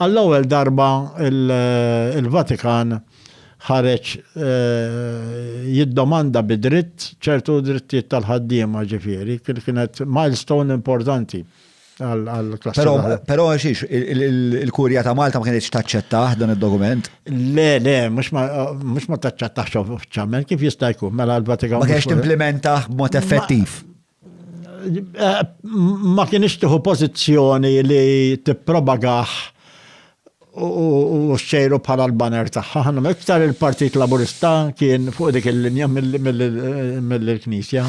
Għall-ewwel darba il-Vatikan ħareġ jiddomanda bi dritt ċertu drittijiet tal-ħaddiema, ġifieri, kienet milestone importanti għall-klassi tal-ħaddiema. Però għaxiex il-Kurja ta' Malta ma kinitx taċċettah dan id-dokument? Le, le, mhux ma taċċettahx uffiċjalment, kif jista' jkun mela l-Vatikan. Ma kinitx timplimentah b'mod effettiv. ma kienx tieħu pożizzjoni li tippropagah u xxejru bħala l-banner tagħha. Iktar il-Partit Laburista kien fuq dik il-linja mill-Knisja.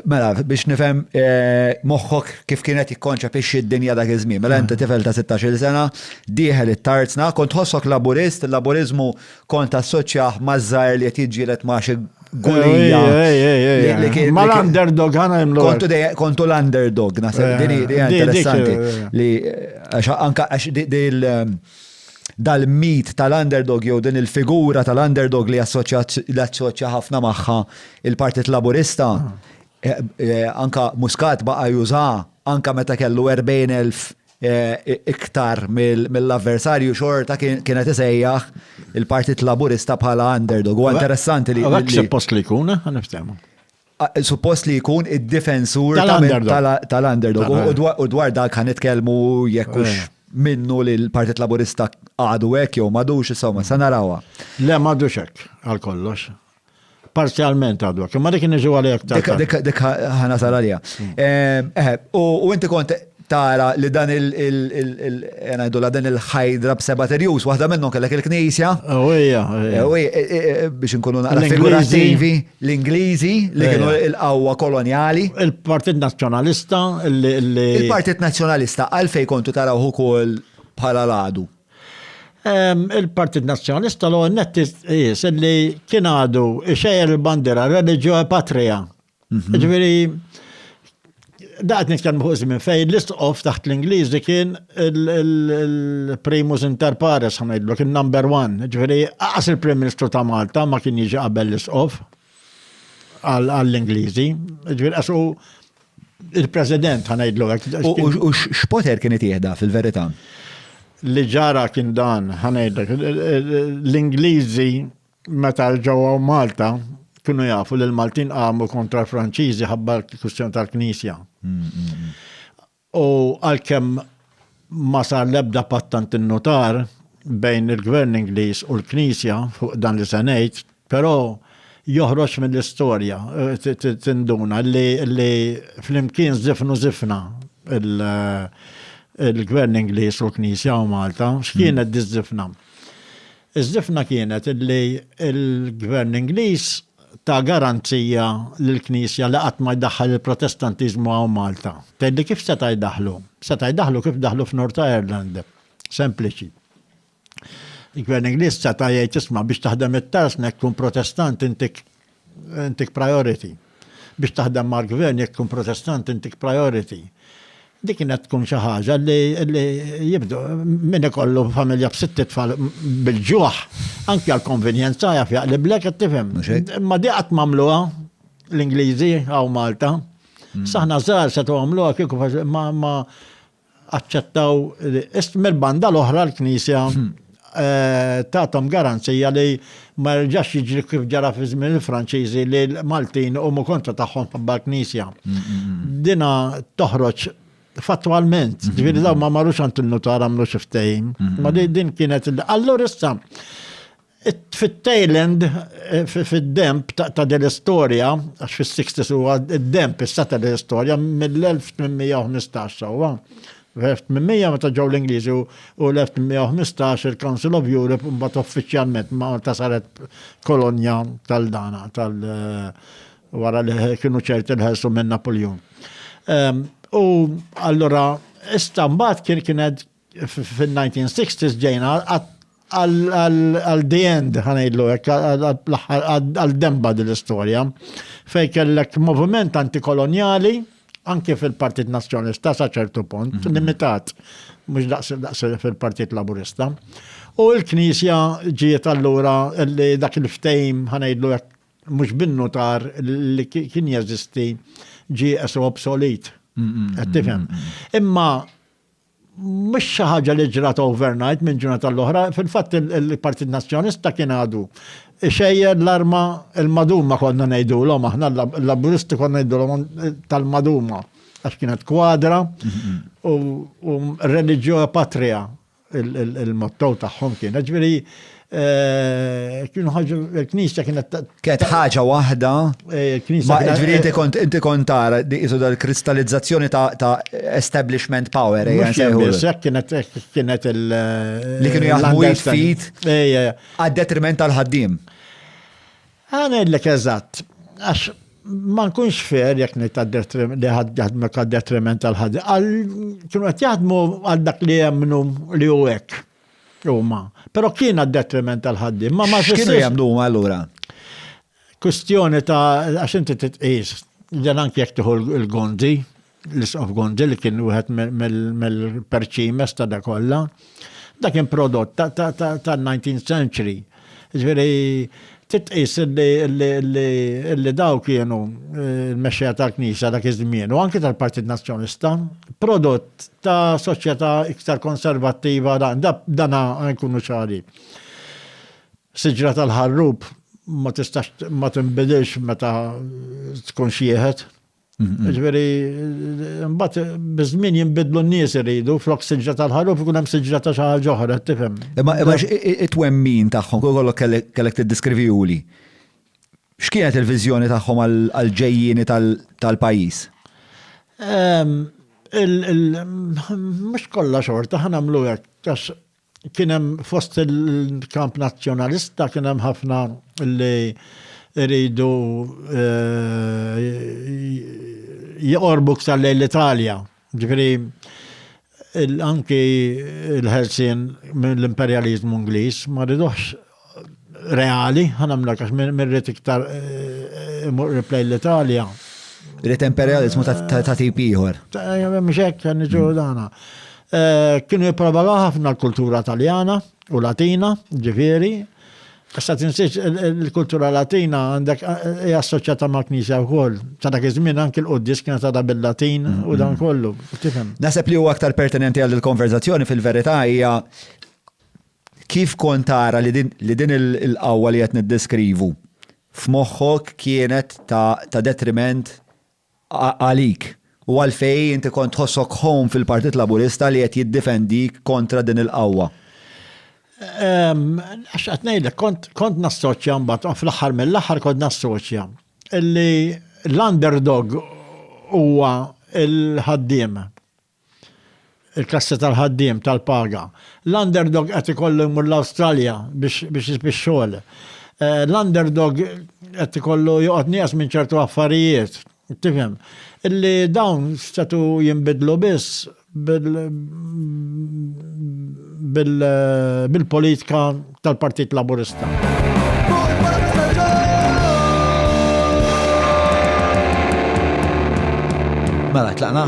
Mela, biex nifhem eh, moħħok kif kienet jikkonċepixxi d-dinja dak iż-żmien. Mela inti tifel ta' 16 sena, dieħel it-tarzna, kont ħossok Laburist, il-Laburiżmu kont assoċjah maż-żgħir li qed jiġġieled ma' xi Gulija. Ma l-underdog għana jimlu. Kontu l-underdog, nasib, dini, dini, interessanti. Li, anka, għax, dil, um, dal-mit tal-underdog jew din il-figura tal-underdog li assoċja ħafna magħha il-Partit Laburista, ah. eh, eh, anka Muscat baqa' juża, anka meta kellu 40,000 iktar mill-avversarju xorta kienet isejjaħ il-Partit Laburista bħala underdog. U interessanti li. Għak suppost li jkun, eh, għaniftemu. Suppost li jkun id-difensur tal-underdog. U dwar dak għan itkelmu jekkux eh. minnu li l-Partit Laburista għadu hekk jew madux, insomma, sa narawha. Le madux hekk għal kollox. Parzjalment għadwak, imma dik niġu għalek ta' dik ħana salarja. Hmm. Ehm, eh, u inti kont tara li dan il- ngħidu dan il-ħajdra b'seba' terjus, waħda minnhom kellek il-Knisja. Ewwija. Eh, eh, biex inkunu naqra figurativi, l-Ingliżi li kienu l-qawwa kolonjali. Il-Partit Nazzjonalista li. Il-Partit Nazzjonalista għalfej kontu taraw ukoll bħala l-għadu. Il-Partit Nazzjonalista l għonnet jis li kien għadu xejjer il-bandira religio e patria. Mhm. Ġviri, daqt nitkan muħuż minn fej l-istqof taħt l-Ingliżi kien il-primus inter pares, ħanajdlu, kien number one. Ġviri, għas il-Prim Ministru ta' Malta ma kien jiġi qabel l-istqof. għall-Ingliżi. Ġifieri għax u il-President ħanajdlu hekk. U x'poter kien itieħda fil-verità? Li ġara kien dan ħanajdlek. L-Ingliżi meta ġewwa Malta kienu jafu li l-Maltin qamu kontra l-Franċiżi ħabba l-kwistjoni tal-Knisja. Mm, mm, mm. U għalkemm ma sar l-ebda patt tant innutar bejn il-Gvern Ingliż u l-Knisja fuq dan li se ngħid, però joħroġ mill-istorja, tinduna, li flimkien żifnu żifna l-Gvern Ingliż u l-Knisja u Malta. X'kienet diż-żifna? Iż-żifna kienet li l-Gvern Ingliż ta garanzija lill-Knisja li qatt ma jdaħħal il-Protestantiżmu hawn Malta. Tgħidli kif seta' jdaħħlu? Seta' jdaħħlu kif daħlu f'North Ireland. Sempliċi. Il-Gvern Ingliż seta' jgħid isma' biex taħdem it-tarsna jekk tkun Protestant inti Intik priority. Biex taħdem mal-gvern jekk tkun protestant intik priority. Dik kienet tkun xi ħaġa li jibdu min ikollu familja b'sitt tfal bil-ġuħ, anke għal konvenjenza jaf jaqliblek qed tifhem. Imma di qatt mamluha l-Ingliżi għaw Malta. Hmm. Saħna żgħar se tagħmluha kieku ma aċċettaw, mill-banda l-oħra l-Knisja hmm. eh, tatom garanzija li ma rġax jiġri kif ġara fi żmien il-Franċiżi li l-Maltin huma kontra tagħhom ħabba l-Knisja. Hmm, hmm, Dina toħroġ fattualment, ġifieri daw ma marrux għand il-nutar għamlu xi ftehim. Ma din kienet allura issa Fit-tail end, fid-demb ta' din l-istorja, għax fis-sixties huwa d-demb issa ta' din l-istorja, mill-1815 sewwa, fl-1800 meta ġew l-Ingliżi u l-1815 il-Council of Europe mbagħad uffiċjalment Malta saret kolonja tal-dana tal wara li kienu ċerti l-ħelsu minn Napoleon. U allura issa mbagħad kien kienet Fin-1960s ġejna għal the end, ħanejdlu hekk, għal demba din l-istorja, fejn kellek moviment antikolonjali, anke fil-Partit Nazzjonalista sa ċertu punt, mhm. limitat, mhux daqs fil-Partit Laburista. U l-Knisja ġiet allura li dak il-ftejm ħanejdlu hekk mhux binnu tar li kien jeżisti ġie esu obsolit. Qed tifhem. Imma mhux xi ħaġa li ġrat overnight minn ġurnata tal-oħra, fil-fatt il-Partit Nazzjonista kien għadu xejjer l-arma il-maduma konna ngħidulhom aħna l-laburisti konna ngħidulhom tal-maduma għax kienet kwadra u religio patria il-motto tagħhom kien. Ġifieri Eh, kienu ħagġu l-knisja kienet. Kienet ħaġa waħda. Eh, ma ġviri inti kont inti kont tara isu dal-kristallizzazzjoni ta' establishment power. Eh, kienet kienet il. Li kienu jaħdmu jitfit. Għad detriment tal-ħaddim. Għana l-lek eżatt. Għax ma nkunx fer jek li ħadmu għad detriment tal-ħaddim. Kienu għat jaħdmu għal dak li jemnu li u għek. Huma. Però kien għad-detriment tal-ħaddiem, ma ma jfissirx. X'kienu jagħmlu huma allura? Kwistjoni ta' għax inti titqis, dan anke jekk tieħu l-Gondi, l-isqof Gondi li kien wieħed mill-perċimes ta' da kollha, dak kien prodott tan-19th century. Ġifieri titqis li daw kienu eh, il-mexxejja tal-Knisja dak iż-żmien u anke tal-Partit Nazzjonista, prodott ta' soċjetà iktar konservattiva dana nkunu ċari. Siġra tal-ħarrub ma tistax ma tinbidilx meta tkun xieħet. Ġveri, mbatt, bizmin jimbidlu n-nies iridu, flok siġra tal-ħaruf, ikun hemm siġra ta' xaħal ġoħra, tifhem. Imma imma it-twemmin tagħhom, kol kollok kellek tiddiskrivijuli. X'kienet il-viżjoni tagħhom għal-ġejjini tal-pajjiż? Mhux kollha xorta, ħanamlu hekk, għax Kien hemm fost il-kamp nazzjonalista kien hemm ħafna li rridu eh, jqorbu ktar lejn l-Italja. Ġifieri anki l-ħelsien mill-imperjaliżmu Ingliż ma riduħx reali, ħanamlek għax mirrit iktar eh, imur replay l-Italja. Rrit imperializmu ta' tip ieħor. Mxek, kan niġu dana. Eh, kienu jiprabala ħafna l-kultura taljana u latina, ġifiri. Issa tinsiex il-kultura latina għandek eh, hija assoċjata ma' knisja wkoll. Ta' dak iż-żmien anke l-quddis kienet għadha bil-Latin u dan mm-hmm. kollu. Tifhem. Naħseb li huwa aktar pertinenti għal il-konverzazzjoni fil-verità hija Kif kont tara li din il-qawwa li qed niddeskrivu f'moħħok kienet ta' detriment għalik? U għalfejn inti kont tħossok home fil-Partit Laburista li qed jiddifendik kontra din il-qawwa? X'qed ngħidlek, kont nassoċja mbagħad, u fl-aħħar mill-aħħar kont nassoċja li l-underdog huwa l-ħaddiem. Il-kassi tal-ħaddiem, tal-paga. L-underdog qed ikollu jmur l-Awstralja biex jisb ix-xogħol. L-underdog qed ikollu joqgħod nieqes minn ċertu affarijiet, tifhem, illi dawn setgħu jinbidlu biss bil-politika tal-Partit Laburista. Mela, tlaqna?